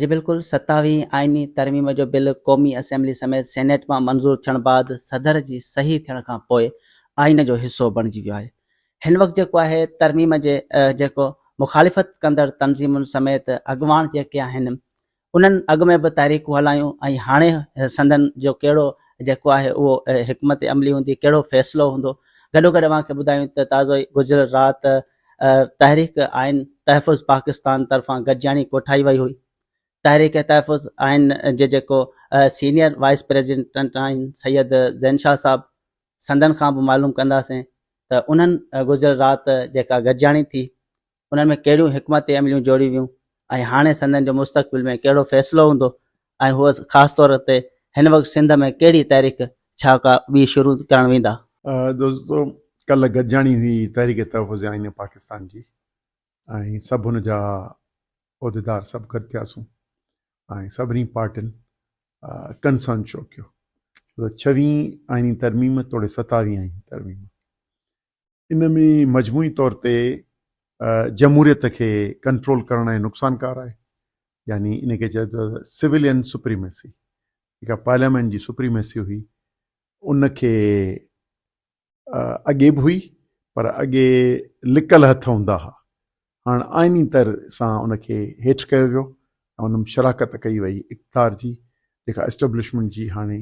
جي بلڪل، ستاويهين آئيني ترميم جو بل قومي اسيمبلي سميت سينيٽ مان منظور ٿيڻ بعد صدر جي صحيح ٿيڻ کان پوء آئين جو حصو بڻجي ويو آهي. هن وقت جيڪو آهي ترميم جي جيڪو مخالفت ڪندڙ تنظيمن سميت اڳواڻ جيڪي آهن انهن اڳ ۾ به تحريڪون هلايون ۽ هاڻي سندن جو ڪهڙو جيڪو آهي اهو حڪمت عملي هوندي ڪهڙو فيصلو هوندو گڏوگڏ اوهان کي ٻڌايون ته تازو ئي گذريل رات تحريڪ آئين تحفظ پاڪستان طرفان گڏجاڻي ڪوٺائي وئي هئي. تحريڪ تحفظ آئين جي جيڪو سينيئر وائيس پريزيڊنٽ آهن سيد زين شاهه صاحب سندن کان به معلوم ڪنداسين ته انهن گذريل رات جيڪا گڏجاڻي ٿي انهن ۾ ڪهڙيون حڪمت عمليون جوڙيون ويون ۽ هاڻي سندن جو مستقبل ۾ ڪهڙو فيصلو هوندو ۽ هو خاص طور تي هن وقت سنڌ ۾ ڪهڙي تحريڪ ڇا ڪا ٻي شروع ڪرڻ ويندا؟ دوستو ڪلهه گڏجاڻي هئي تحريڪ تحفظ آئين پاڪستان جي ۽ سڀ ان جا عهديدار سڀ گڏ ٿياسون ۽ سڀني پارٽين ڪنسن شو ڪيو ڇوته ڇويهين آئيني ترميم توڙي ستاويهين آئيني ترميم ان ۾ مجموعي طور تي جمهوريت کي ڪنٽرول ڪرڻ ۽ نقصان ڪار آهي يعني ان کي چئبو ته سولين سپريميسي جيڪا پارليامينٽ جي سپريميسي هئي ان کي اڳي به هئي پر اڳي لڪل هٿ هوندا هئا هاڻ آئيني طر سان ان کي هيٺ ڪيو ويو ۽ ان ۾ شراڪت ڪئي وئي اقتدار جي جيڪا اسٽبلشمينٽ جي هاڻي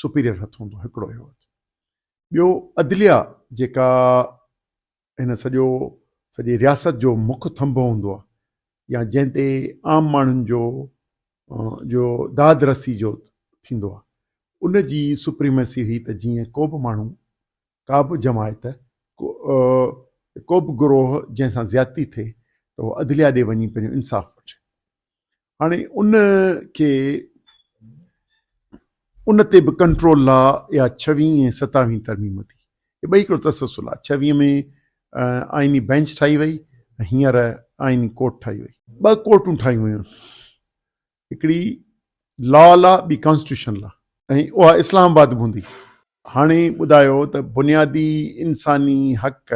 سپيريئر هٿ هوندو هڪڙو اهو ٻيو عدليه جيڪا هن سڄو سڄي رياست جو مک ٿنڀ هوندو آهي يا جنهن تي عام ماڻهن جو جو داد رسي جو ٿيندو آهي ان جي سپريمسي هئي ته جيئن ڪو به ماڻهو ڪا به جماعت ڪو به گروه جنهن سان زيادتي ٿئي ته هو عدليه ڏي وڃي پنهنجو انصاف وٺي هاڻي ان کي ان تي به ڪنٽرول لا يا ڇويهين ۽ ستاويهين ترميم ٿي هي ٻئي هڪڙو تسلسل آهي ڇويهين ۾ آئيني بينچ ٺاهي وئي هينئر آئيني ڪورٽ ٺاهي وئي ٻه ڪورٽون ٺاهيون ويون هڪڙي لا لا ٻي ڪانسٽيوشن لا ۽ اها اسلام آباد به هوندي هاڻي ٻڌايو ته بنيادي انساني حق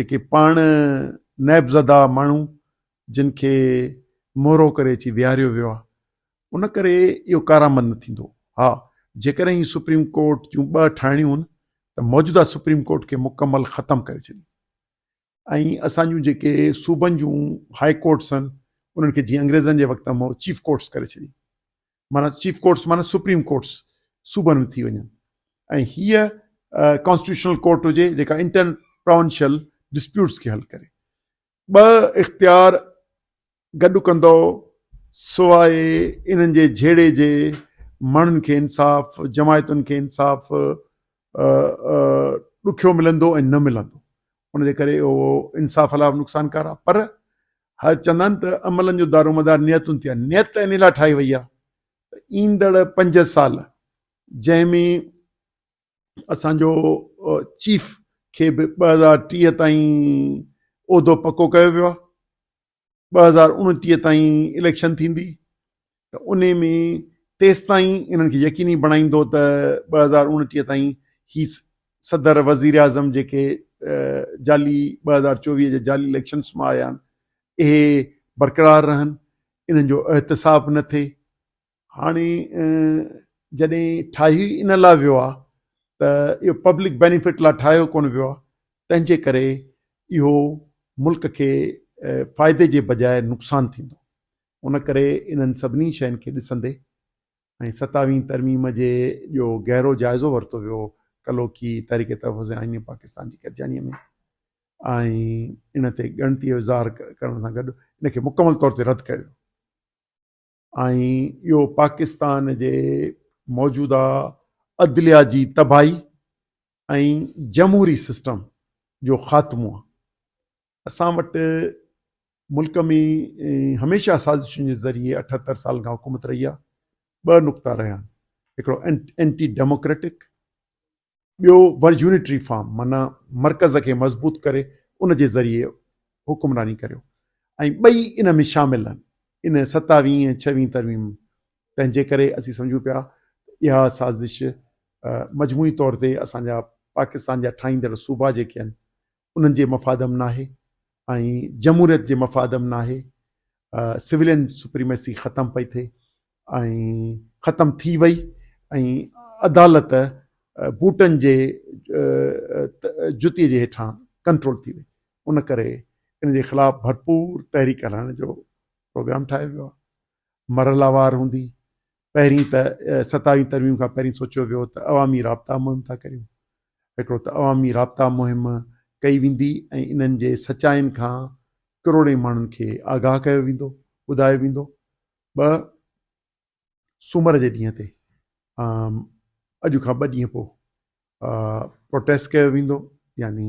جيڪي پاڻ نيب زده ماڻهو جن کي مهرو ڪري اچي ويهاريو ويو آهي ان ڪري اهو ڪارآمد نه ٿيندو ها جيڪڏهن هي سپريم ڪورٽ جون ٻه ٺاهڻيون هن ته موجوده سپريم ڪورٽ کي مڪمل ختم ڪري ڇڏي ۽ اسان جون جيڪي صوبن جون هاء ڪورٽس آهن انهن کي جيئن انگريزن جي وقت ۾ چيف ڪورٽس ڪري ڇڏي معنيٰ چيف ڪورٽس معنيٰ سپريم ڪورٽس صوبن ۾ ٿي وڃن ۽ هيء ڪانسٽيٽيوشنل ڪورٽ هجي جيڪا انٽر پراونشل ڊسپيوٽس کي حل ڪري. ٻه اختيار گڏ ڪندو سواء انهن جي جهيڙي جي ماڻهن کي انصاف، جماعتن کي انصاف ڏکيو ملندو ۽ نه ملندو. ان جي ڪري اهو انصاف لاء به نقصانڪار آهي پر هر چوندا آهن ته عملن جو دارومدار نيتن تي آهي نيت ان لاء ٺاهي وئي آهي ايندڙ پنج سال جنهن ۾ اسانجو چيف کي به ٻه هزار ٽيهه تائين عهدو پڪو ڪيو ويو آهي ٻه هزار اڻٽيهه تائين اليڪشن ٿيندي ته ان ۾ تيستائين انهن کي يقيني بڻائيندو ته ٻه هزار اڻٽيهه تائين هي صدر وزير اعظم جيڪي جعلي ٻه هزار چوويهه جي جعلي اليڪشنس مان آيا آهن اهي برقرار رهن انهن جو احتساب نه ٿئي هاڻي جڏهن ٺاهي ان لاء ويو آهي ته اهو پبلڪ بينيفٽ لاء ٺاهيو ڪونه ويو آهي تنهنجي ڪري اهو ملڪ کي فائدي جي بجاء نقصان ٿيندو ان ڪري انهن سڀني شين کي ڏسندي ۽ ستاويهين ترميم جي جو گهرو جائزو ورتو ويو ڪلوڪي تحريڪ تحفظ آئين پاڪستان جي گڏجاڻيء ۾ ۽ ان تي ڳڻتي اظهار ڪرڻ سان گڏ ان کي مڪمل طور تي رد ڪيو ۽ اهو پاڪستان جي موجوده عدليا جي تباهي ۽ جمهوري سسٽم جو خاتمو آهي اسان وٽ ملڪ ۾ هميشه سازشن جي ذريعي اٺهتر سالن کان حڪومت رهي آهي ٻه نقطا رهيا آهن هڪڙو اينٽي ڊيموڪريٽڪ ٻيو ور يونٽري فارم معنيٰ مرڪز کي مضبوط ڪري ان جي ذريعي حڪمراني ڪريو ۽ ٻئي ان ۾ شامل آهن ان ستاويهين ۽ ڇويهين ترميم تنهن جي ڪري اسين سمجهون پيا اها سازش مجموعي طور تي اسان جا پاڪستان جا ٺاهيندڙ صوبا جيڪي آهن انهن جي مفاد م ناهي ۽ جمهوريت جي مفاد م ناهي سولين سپريميسي ختم پئي ٿئي ۽ ختم ٿي وئي ۽ عدالت بوٽن جي جتي جي هيٺان ڪنٽرول ٿي وئي ان ڪري ان جي خلاف ڀرپور تحريڪ هلائڻ جو پروگرام ٺاهيو ويو آهي مرحلوار هوندي، پهرين ته ستاويهين ترميم کان پهرين سوچيو ويو ته عوامي رابطا مهم ٿا ڪريون، هڪڙو ته عوامي رابطا مهم ڪئي ويندي ۽ انهن جي سچائين کان ڪروڙين ماڻهن کي آگاهه ڪيو ويندو، ٻڌايو ويندو، ٻه سومر جي ڏينهن تي اڄ کان ٻه ڏينهن پوء پروٽيسٽ ڪيو ويندو يعني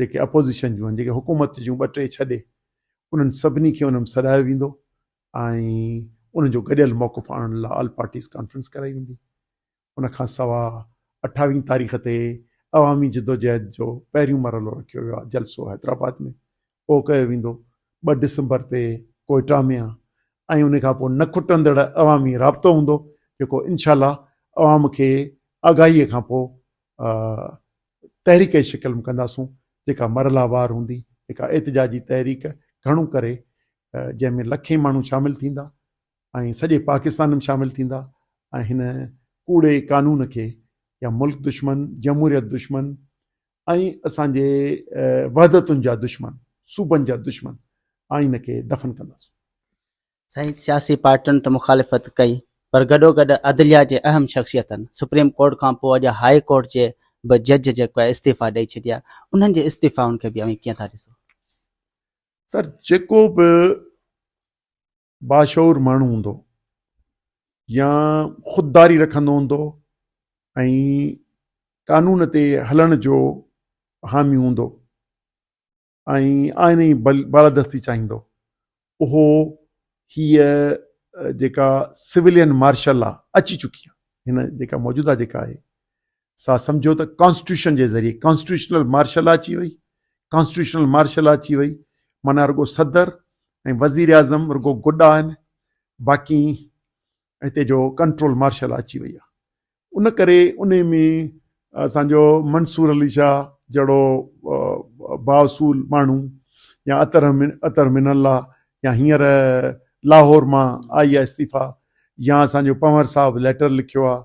جيڪي اپوزيشن جون آهن جيڪي حڪومت جون ٻه ٽي ڇڏي انهن سڀني کي انهن سڏايو ويندو ۽ ان جو گڏيل موقف آڻڻ لاء آل پارٽيز ڪانفرنس ڪرائي ويندي ان کان سوا اٺاويهين تاريخ تي عوامي جدوجهد جو پهريون مرحلو رکيو ويو آهي جلسو حيدرآباد ۾ پوء ڪيو ويندو، ٻه ڊسمبر تي ڪوئيٽا ۾ ۽ ان کان پوء نه کٽندڙ عوامي رابطو هوندو جيڪو انشاء الله عوام کي آگاهيء کان پوء تحريڪ جي شڪل ۾ ڪنداسون جيڪا مرحلا وار هوندي هڪ احتجاجي تحريڪ گهڻو ڪري جنهن ۾ لکين ماڻهو شامل ٿيندا ۽ سڄي پاڪستان ۾ شامل ٿيندا ۽ هن ڪوڙي قانون کي يا ملڪ دشمن جمهوريت دشمن ۽ اسان جي وحدتن جا دشمن، صوبن جا دشمن آئين کي دفن ڪنداسون. سائين سياسي پارٽين ته مخالفت ڪئي پر گڏوگڏ عدليا جي اهم شخصيتن سپريم ڪورٽ کان پوء اڄ هاء ڪورٽ جي به جج جيڪو آهي استعيفا ڏئي ڇڏيا انهن جي استعيفائن کي به اوهين ڪيئن ٿا ڏسو؟ سر جيڪو به باشعور ماڻهو هوندو يا خودداري رکندو هوندو ۽ قانون تي هلڻ جو حامي هوندو ۽ آئين جي بالادستي چاهيندو اهو هيء جيڪا سولين مارشل آ اچي چڪي آ هن جيڪا موجوده جيڪا آهي سا سمجهيو ته ڪانسٽيٽيوشن جي ذريعي ڪانسٽيٽيوشنل مارشل لا اچي وئي ڪانسٽيٽيوشنل مارشل لا اچي وئي معنيٰ رڳو صدر ۽ وزير اعظم رڳو گڏا آهن باقي هتي جو ڪنٽرول مارشل لا اچي وئي آهي ان ڪري ان ۾ اسانجو منصور علي شاهه جهڙو باصول ماڻهو يا اطر اطر من الله يا هينئر لاهور مان آئي آهي استعيفا يا اسانجو پنور صاحب ليٽر لکيو آهي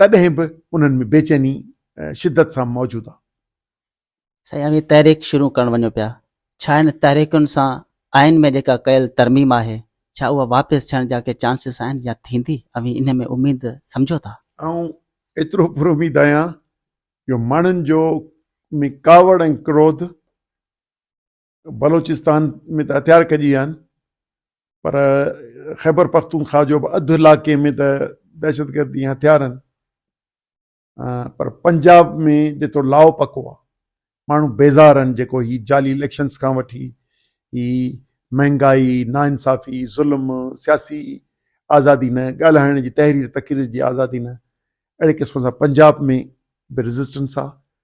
تڏهن به انهن ۾ بيچيني شدت سان موجود آ. سائين اوهين تحريڪ شروع ڪرڻ وڃو پيا ڇا ان تحريڪن سان آئين ۾ جيڪا ڪيل ترميم آهي ڇا اها واپس ٿيڻ جا ڪي چانسز آهن يا ٿيندي اوهين ان ۾ اميد سمجهو ٿا؟ آئون ايترو پر اميد آهيان جو ماڻهن جو ۾ ڪاوڙ ۽ ڪروڌ بلوچستان ۾ ته هٿيار ڪجي ويا آهن پر خيبر پختونخوا جو به اڌ علاقي ۾ ته دهشتگردي ۽ هٿيار آهن پر پنجاب ۾ جيترو لاء پڪو آهي ماڻهو بيزار آهن جيڪو هي جعلي اليڪشنس کان وٺي هي مهنگائي ناانصافي ظلم سياسي آزادي نه ڳالهائڻ جي تحرير تقرير جي آزادي نه اهڙي قسم سان پنجاب ۾ به ريزسٽنس آهي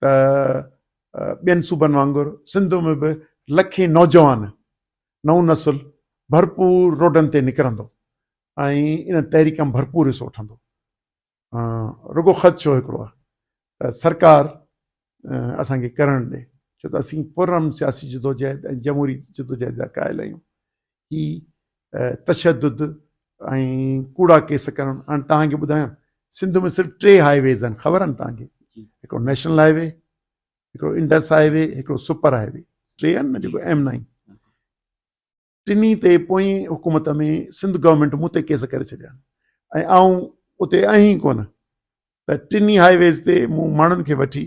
ته ٻين صوبن وانگر سنڌ ۾ به لکين نوجوان نئون نسل ڀرپور روڊن تي نڪرندو ۽ ان تحريڪ ۾ ڀرپور حصو وٺندو رڳو خدشو هڪڙو آهي ته سرڪار اسان کي ڪرڻ ڏي ڇو ته اسين پرامن سياسي جدوجهد ۽ جمهوري جدوجهد جا قائل آهيون هي تشدد ۽ ڪوڙا ڪيس ڪرڻ هاڻي توهان کي ٻڌايان سنڌ ۾ صرف ٽي هاء ويز آهن خبر آهن توهان کي هڪڙو نيشنل هاء وي هڪڙو انڊس هاء وي هڪڙو سپر هاء وي ٽي آهن نه جيڪو ايم نائن ٽنهي تي پوئين حڪومت ۾ سنڌ گورنمنٽ مون تي کيس ڪري ڇڏيا ۽ آئون اتي آهي ڪونه ته ٽنهي هاء ويز تي مون ماڻهن کي وٺي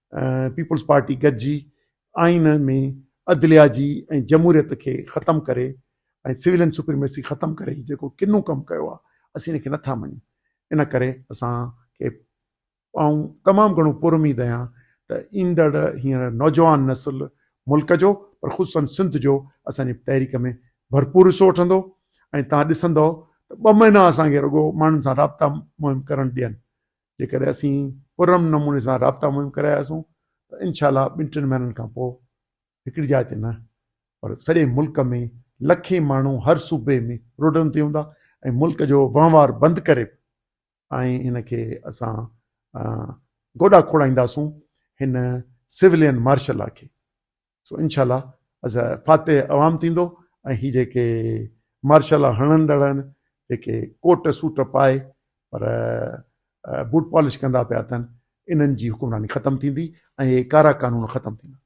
پيپلز پارٽي گڏجي آئين ۾ عدليا جي ۽ جمهوريت کي ختم ڪري ۽ سويلين سپريميسي ختم ڪري جيڪو ڪنو ڪم ڪيو آهي اسين ان کي نٿا مڃون ان ڪري اسان کي آئون تمام گهڻو پراميد آهيان ته ايندڙ هينئر نوجوان نسل ملڪ جو پر خصوصن سنڌ جو اسانجي تحريڪ ۾ ڀرپور حصو وٺندو ۽ تان ڏسندو ته ٻه مهينا اسان کي رڳو ماڻهن سان رابطا مهم ڪرڻ ڏين جيڪڏهن اسين پرامن نموني سان رابطا مهم ڪراياسون ته انشاء الله ٻن ٽن مهينن کان پوء هڪڙي جاء تي نه پر سڄي ملڪ ۾ لکين ماڻهو هر صوبي ۾ روڊن تي هوندا ۽ ملڪ جو وهنوار بند ڪري ۽ ان کي اسان گوڏا کوڙائينداسون هن سولين مارشل لا کي سو انشاء الله از فاتح عوام ٿيندو ۽ هي جيڪي مارشلا هڻندڙ آهن جيڪي ڪوٽ سوٽ پائي پر بوٽ پالش ڪندا پيا اٿن انهن جي حڪمراني ختم ٿيندي ۽ هي ڪارا قانون ختم ٿيندا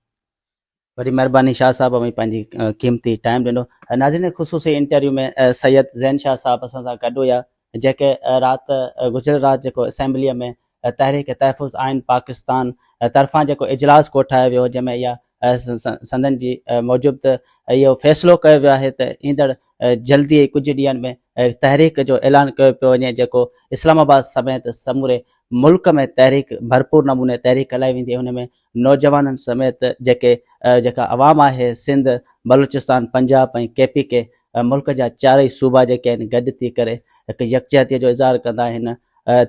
وڏي مهرباني شاهه صاحب اوهين پنهنجي قيمتي ٽائيم ڏنو ناظرين خصوصي انٽرويو ۾ سيد زين شاهه صاحب اسان سان گڏ هيا جيڪي رات گذريل رات جيڪو اسيمبليء ۾ تحريڪ تحفظ آئين پاڪستان طرفان جيڪو اجلاس ڪوٺايو ويو جنهن ۾ اها سندن جي موجب ته اهو فيصلو ڪيو ويو آهي ته ايندڙ جلدي ئي ڪجهه ڏينهن ۾ تحريڪ جو اعلان ڪيو پيو وڃي جيڪو اسلام آباد سميت سموري ملڪ ۾ تحريڪ ڀرپور نموني تحريڪ هلائي ويندي ۽ ان ۾ نوجوانن سميت جيڪي جيڪا عوام آهي Sindh, Balochistan, Punjab ۽ K P K ملڪ جا چارئي صوبا جيڪي آهن گڏ ٿي ڪري هڪ يڪجهتي جو اظهار ڪندا آهن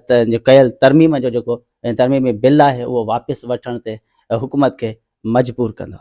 ته ڪيل ترميم جو جيڪو ترميمي بل آهي اهو واپس وٺڻ تي حڪومت کي مجبور ڪندا.